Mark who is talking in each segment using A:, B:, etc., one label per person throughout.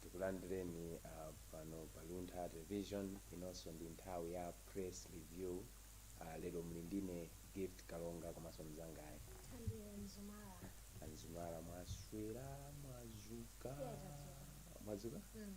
A: tikulandireni uh, pano pa luntha television inonso ndi nthawi ya press review uh, lero muli ndine gift kalonga komanso mzangayi thandie mzumara a mzumara mwaswera mwadzuka Yes, mwadzuka Mm.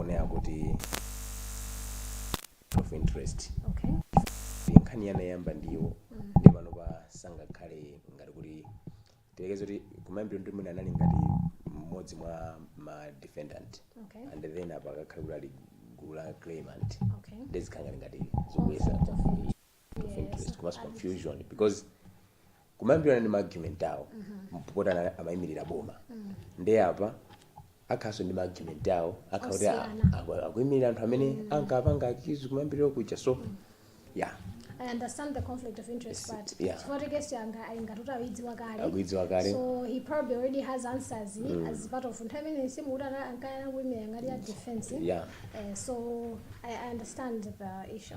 A: onera kuti of interest okay
B: ndi
A: nkhaniyi anayamba ndi iwo nde panopa sangakhale ngati kuti tiyerekeze kuti kumayambiriro ndi mwina anali ngati mmodzi mwa ma defendant Okay. and then
B: apa akakhale
A: kuti ali gulu la claimant Okay. ndezikhala ngati
B: ngati
A: zikuyesa Conflict of interest. of interest komanso confusion because kumayambiriro anali ndi maargument awo mpopota amayimirira boma nde apa akhanso ndi ma argument awo akha kuti a- Osiyana. aku- akuimirira anthu amene ankapanga accuse kumayambiriro kuja so ya i understand
B: the conflict of interest Yes, but yeah. chifukwa choti case yi
A: akhala ngati kuti ayidziwa
B: kale akuidziwa kale so he probably already has answers as part of nthawi imene si mukuti ana- ankayana kuimira ngati ya defense ya Eh,
A: so
B: I, I understand the issue.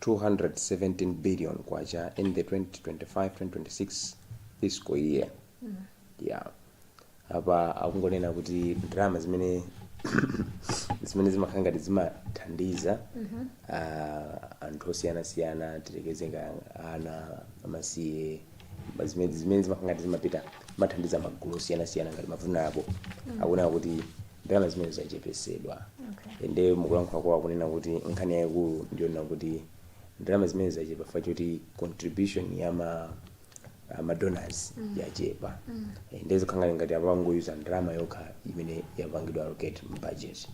A: K217 billion in the 2025, 2026 fiscal year. Apa akungonena kuti ndalama zimene zimene zimakhala ngati zimathandiza ah, anthu osiyanasiyana tiyerekeze ngati ana amasiye Ma- zimene zimene zimakha ngati zimapita kumathandiza magulu osiyanasiyana ngati ma vulnerable akunena kuti ndalama zimenezi zachepetsedwa Okay. ende mukulankhula kwawo akunena kuti nkhani yayikulu ndiyonena kuti ndalama zimenezi zachepa chifukwa choti contribution ya ma ah, ma donors yachepa ende zikukhala ngati apangoyuza ndalama yokha imene yapangidwa allocate mu budget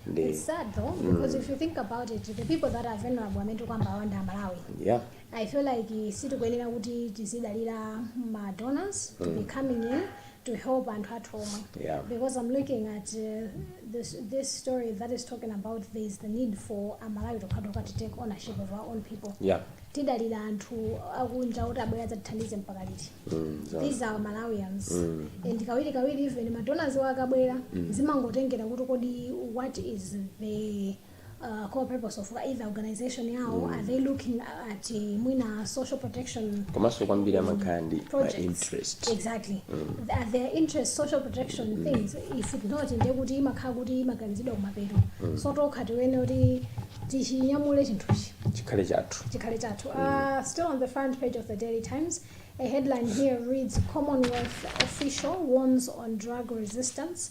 A: nde It's
B: sad though, because if you think about it, the people that are vulnerable amene kwambiri ali Amalawi. yeah I
A: feel
B: like sitikuyenera kuti tizidalira ma donors to be coming in to help anthu athu omwe Yeah. because I'm looking
A: at
B: uh, this, this story that is talking about there is the need for Amalawi tokhatokha to take ownership of our own people Yeah.
A: tidalira
B: anthu akunja kuti abwere adzatithandize mpaka liti Mm, so- these are malawians and kawiri kawiri even madonors akabwera zimangotengera kuti kodi what is the uh, core purpose of either organization yawo are they looking at uh, mwina social protection komanso kwambiri amakhala
A: ndi ma projects interest
B: exactly Th- their interest social protection things if it's not ndiye kuti imakhala kuti imaganizidwa kumapeto so tokha tiyenera kuti tichinyamule chinthuchi chikhale
A: chathu chikhale chathu uh, still on
B: the front page of the daily times a headline here reads commonwealth official warns on drug resistance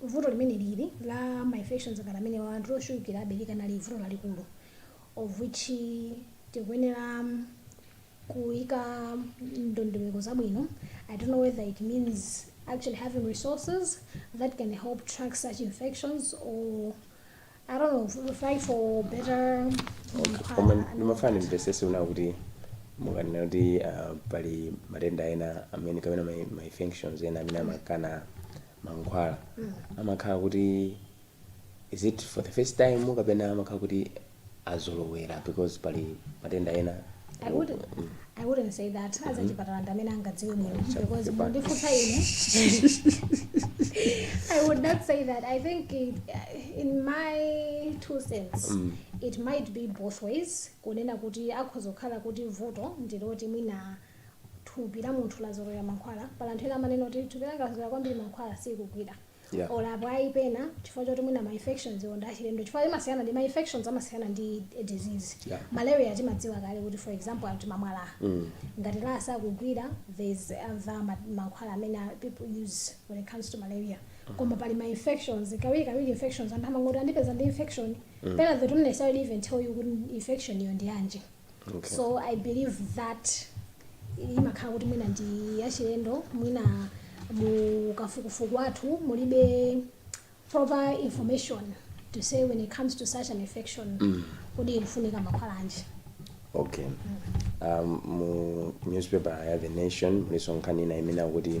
B: Vuto limeneli la ma infections ngati amenewa anthu ochulukirabe likanali vuto lalikulu of which tikuyenera kuika ndondomeko zabwino, I don't know whether it means actually having resources that can help track such infections or I don't know, fight for better.
A: koma ndimafuna ndimvesese kunena kuti mukanena kuti ah, pali matenda ena amene kapena ma ma infections ena amene amakana mankhwala amakhala kuti is it for the first time kapena amakhala kuti azolowera because pali matenda ena I wouldn't, I wouldn't say that. Azachipatala ndi amene angadziwe bwino because mundifunsa ine. I would not say that. I think it, in my two cents it might be both ways. Kunena kuti akhoza kukhala kuti vuto ndiloti mwina thupi la munthu lazolowera mankhwala. Pali anthu ena amanena kuti thupi langa lazolowera kwambiri mankhwala sikugwira. Yeah. olo apo ayi
B: pena chifukwa choti mwina ma infections iwo ndi achilendo chifukwa imasiyana ndi ma infections amasiyana ndi a disease Yeah. malaria
A: timadziwa kale
B: kuti for example anthu amamwa LA ngati LA sakugwira there is other ma- mankhwala amene a- people use when it comes to malaria koma pali ma infections kawiri kawiri infections anthu amangoti andipeza ndi infection pena they don't necessarily even tell you kuti infection iyo ndi yanji Okay. so
A: i believe
B: that imakhala kuti mwina ndi yachilendo mwina mu kafukufuku wathu mulibe proper information to say when it comes to such an infection mm. kodi ikufunika mankhwala anji okay
A: um, mu newspaper ya the nation muliso nkhani ina imene akuti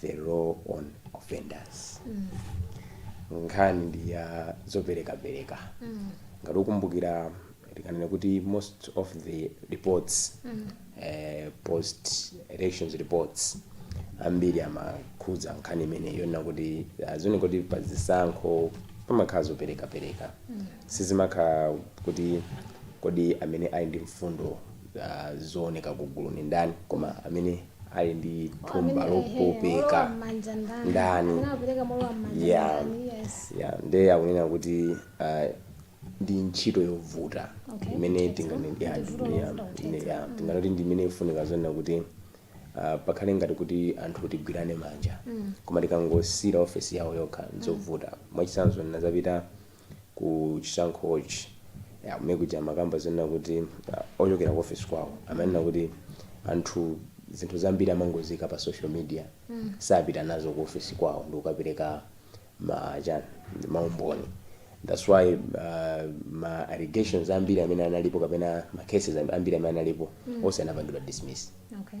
A: the law on offenders nkhani ndi ya zoperekapereka ngati ukumbukira tikanena kuti most of the reports eh, post elections reports ambiri amakhudza nkhani imene yonena kuti ah, zimaoneka kuti pa zisankho pamakhala zoperekapereka sizimakhala kuti kodi amene ali ndi mfundo ah, zooneka ku gulu ndi ndani koma amene ali ndi thumba lopopeka ndani ya ya nde akunena kuti uh, ndi ntchito yovuta Okay, imene ntchito tingane- yovuta, ya, ntchito ya, yovuta, ntchito. ine- ya, tinganoti ndi imene ifunika zonena kuti uh, pakhale ngati kuti anthu tigwirane manja koma tikangosiyira ofesi yawo yokha nzovuta mwachitsanzo ndinazapita ku chisankhochi. Ya, kumene kuja amakamba zonena kuti uh, ochokera ku office kwawo amanena kuti anthu zinthu zambiri amangoziika pa social media mm. sapita nazo ku office kwawo ndi kukapereka ma chani maumboni that's why uh, ma allegations ambiri amene analipo kapena ma cases ambiri amene analipo mm. onse anapangidwa dismiss Okay.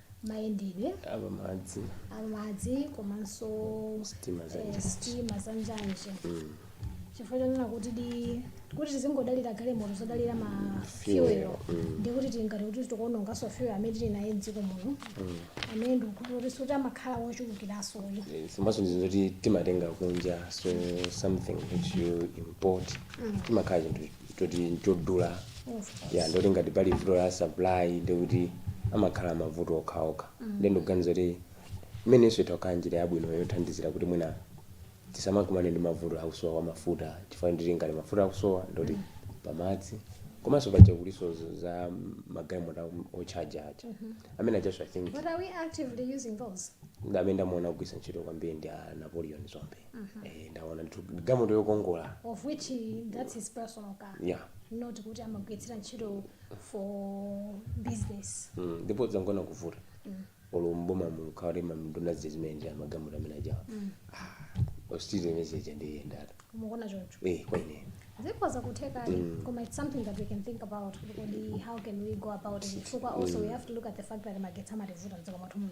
B: mayendedwe apamadzi amadzi komanso Sitima za eh, njanji. sitima za njanji chifukwa chonena kuti di kuti tizingodalira galimoto zodalira ma Fuel, fuel mm. ndi kuti tingoti kuti tikuononganso fuel amene tili naye mdziko muno amene ndikukhulupirira kuti sikuti amakhala wochulukiranso uyu komanso ndizo
A: kuti timatenga kunja so something which you import timakhala chinthu choti nchodula ya ndi zoti ngati pali vuto la supply ndikuti amakhala mavuto okhaokha ndi ndikuganiza kuti imeneyonso itha kukhala njira yabwino yothandizira kuti mwina tisamakumane ndi mavuto akusowa kwa mafuta chifukwa ndi kuti ngati mafuta akusowa ndoti pamadzi komanso paja kulinso z- za magalimoto otchaja aja amene ajanso i think But are we actively
B: using those? amene ndamuona
A: akugwiritsa ntchito kwambiri ndi a Napoleon Dzombe Eh, ndaona ndithu galimoto yokongola of which
B: he- that's his personal car yeah not kuti amagwiritsira ntchito for business Mm, ndipo zangoona kuvuta olo mboma mukaone ma nduna zija zimene ndi magalimoto amene ajawa ostiri imezeja ndiyendata mukuona choncho eh kwa
A: ine zikhoza
B: kutheka koma it's something that we can think about kuti kodi how can we go about it chifukwa also we have to look at the fact that magetsi amativuta mdziko mwathu muno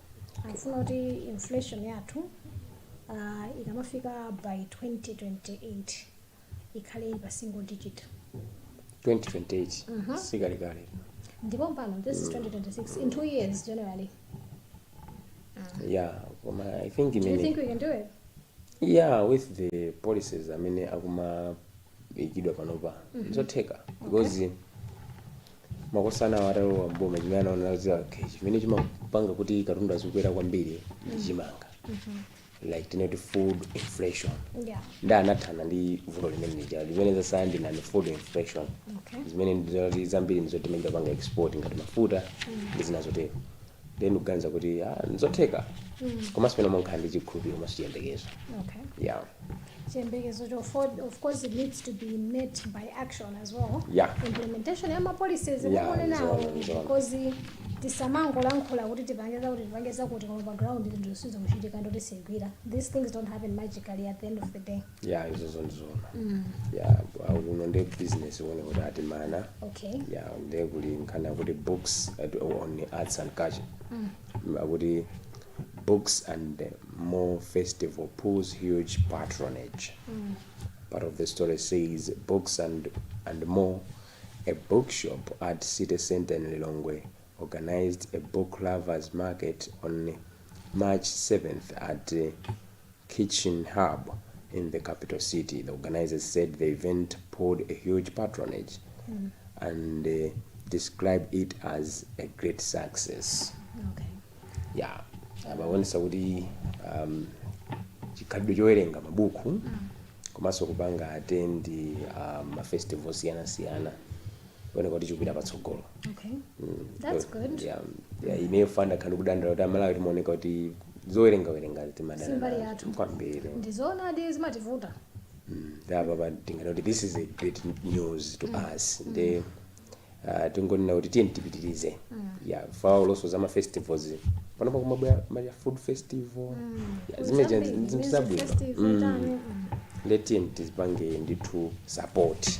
B: akufuna kuti inflation yathu uh, ikamafika by 2028 ikhale ili pa single digit 2028
A: sikale kale ndipo
B: mpano this is 2026 in two years generally
A: yeah koma i think do you think we can do it
B: yeah with
A: the policies amene akuma ikidwa panopa nzotheka because makosana awo atalowa mboma chimene anaona za okay, chimene chimapanga kuti katundu azikwera kwambiri ndi chimanga like tinoti food inflation Yeah. nde anathana ndi vuto limene lija limene zatsala ndi non food inflation Okay. zimene ndizoti zambiri ndi zoti timachita kupanga export ngati mafuta ndi zina zotero ndiye ndikuganiza kuti ah, nzotheka komanso pena mumakhala ndi chikhulupiriro komanso chiyembekezo okay yeah. chiyembekezo
B: cho for- of course it needs to be met by action as well Yeah. implementation ya mapolicies Yeah, muone nawo nzona, nzona. because tisamangolankhula kuti tipange zakuti tipange zakuti koma pa ground zinthuzo sizikuchitika nde kuti sizigwira these things don't happen magically at the end of the day ya izozo ndizoona
A: ya ah, kuno ndi business one kuti atimana okay ya ndiye kuli nkhani akuti books at- on arts and culture akuti books and the more festival pulls huge patronage part of the story says books and and more a bookshop at city center in lilongwe organized a book lovers market on march 7th at uh, Kitchen Hub in the capital city. The organizers said the event pulled a huge patronage and uh, described it as a great success.
B: Okay.
A: Yeah, abaonesa kuti um, chikhalidwe chowerenga mabuku komanso kupanga attend uh, mafestival osiyanasiyana kuoneka kuti chikupita patsogolo
B: okay mm. that's good
A: yeah, yeah, ineyo ndakhala ndikudandaula kuti amalawi timaoneka kuti zowerengawerenga si mbali yathu.
B: timadana kwambiri ndizoonadi zimativuta nde
A: apapa tinganene kuti this is a great news to us nde ah, tingonena kuti tiyeni tipitirize ya of course olo za mafestivals panopa kumabwera ma food festival Ya, zimene zija ndi- zinthu zabwino Mm. nde tiyeni tizipange ndithu support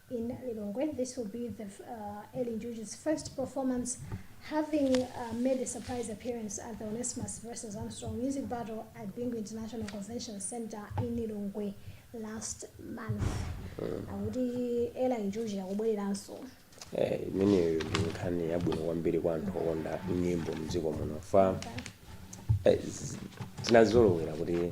B: in Lilongwe. This will be the uh, Eli Njuchi's first performance having uh, made a surprise appearance at the Onesimus versus Armstrong Music Battle at Bingu International Convention Center in Lilongwe last month. Akuti Eli Njuchi akubwereranso. Eh, imeneyo
A: ndi nkhani yabwino kwambiri kwa anthu okonda nyimbo mdziko muno fa eh, z- tinazolowera kuti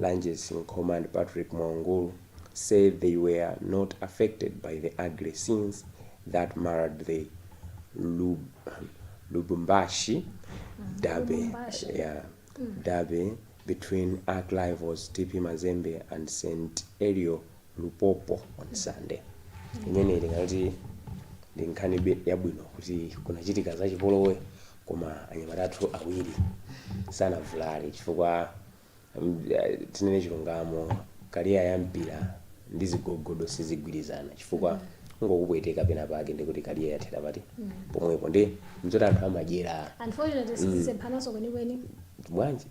A: Lanjesi Nkhoma and Patrick Mwaungulu say they were not affected by the ugly scenes that marred the Lub Lubumbashi derby Lubumbashi. yeah, derby between arch rivals TP Mazembe and St. Elio Lupopo on Sunday. Imeneyi ndingati ndi nkhani be- yabwino kuti kunachitika zachipolowe koma anyamata athu awiri sanavulare chifukwa mm, eh, tinene chilungamo career ya mpira ndi zigogodo sizigwirizana chifukwa angokupweteka pena pake ndikuti career yathera pati pomwepo ndi mzoti anthu amadyera unfortunately
B: sizisemphananso kwenikweni bwanji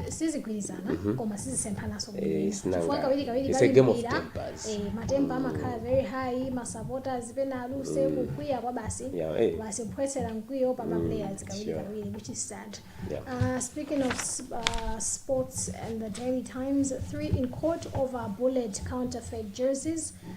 B: sizigwirizana mm -hmm. koma sizisemphananso eh, chifukwa
A: kawiri kawiri pa mpira eh, ma temper mm.
B: amakhala very high ma supporters pena aluze mm. kukwiya kwa basi yeah, eh. basi kuphwetsera mkwiyo pa ma mm, players kawiri sure. kawiri which is sad yeah. uh, speaking of uh, sports and the daily times three in court over Bullets counterfeit jerseys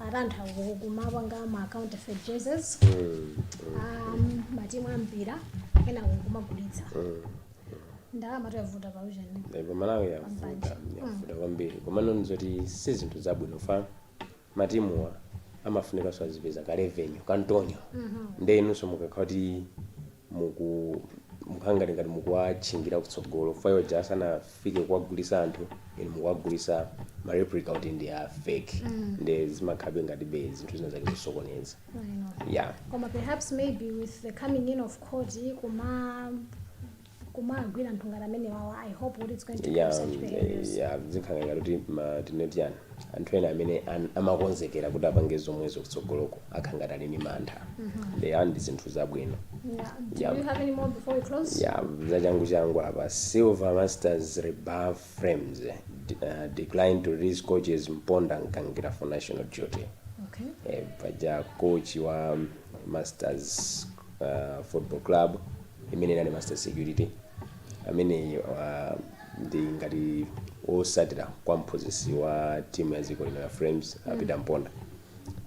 B: ati anthu ku- kumapanga ma counterfeit jerseys um, matimu ampira ena kumagulitsa ndalamatu yavuta pa ujeni Eh, pamalawi
A: yavuta yavuta kwambiri komano ndizoti si zinthu zabwino fa matimuwa amafunikanso azipeza ka revenue kantonyo nde inunso mukakhala kuti muku mukhangati ngati mukuwatchingira kutsogolo fa iwo aja asanafike kuwagulisa anthu inu mukuwagulisa ma replica oti ndi a fake mm. nde zimakhabe ngati be zinthu zina zake zosokoneza
B: yeah. koma perhaps maybe with the coming in of court kuma kumagwira anthu ngati amenewawa i hope kuti it's going to yeah, curb such behaviors
A: yeah,
B: zinkhala ngati kuti
A: tinetiana anthu ena amene an- amakonzekera kuti apange zomwezo kutsogoloko akhala ngati ali ndi mantha yeah ndi zinthu zabwino Yeah.
B: Do Yeah. you have any more before we close? ya zachangu changu
A: apa silver masters rebuff Flames eh, d- uh, declined to release coaches mponda Mgangira for national duty Okay. eh,
B: paja coach
A: wa masters uh, football club imene inali Masters Security amene uh, ndi ngati otsatira kwa mphunzitsi wa timu ya dziko lino ya flames mm. a Peter Mponda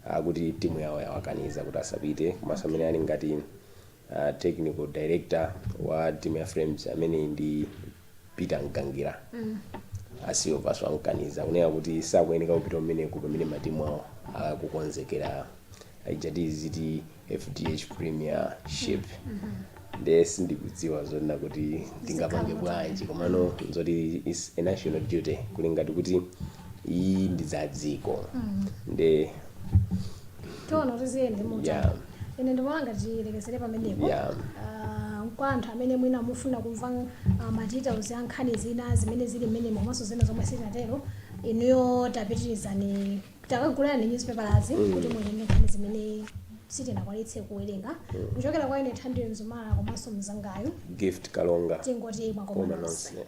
A: akuti timu yawo yawakaniza kuti asapite komanso amene ali ngati uh, technical director wa timu ya flames amene ndi Peter Mgangira mm. a Silver nso amkaniza kunena kuti sakuyeneka kupita kumeneko pamene matimu awo akukonzekera ijayi ziti FDH Premiership nde sindikudziwa zonena kuti tingapange bwanji komano nzoti it's a national duty kuli ngati kuti iyi ndi za dziko nde
B: tiona kuti ziyende mutani Yeah. ine ndikuona ngati tilekezere pamenepo Yeah. Ah, kwa anthu amene mwina mufuna kumva ah, ma details a nkhani zina zimene zili mmenemo komanso zina zomwe sitinatero inuyo tapitirizani Takagulani newspapers kuti muone nkhani zimene sitinakwanitse kuwerenga kuchokera kwa ine Thandie Mzumara komanso mnzangayu Gift Kalonga. Tingoti mwakoma koma nonse. nonse.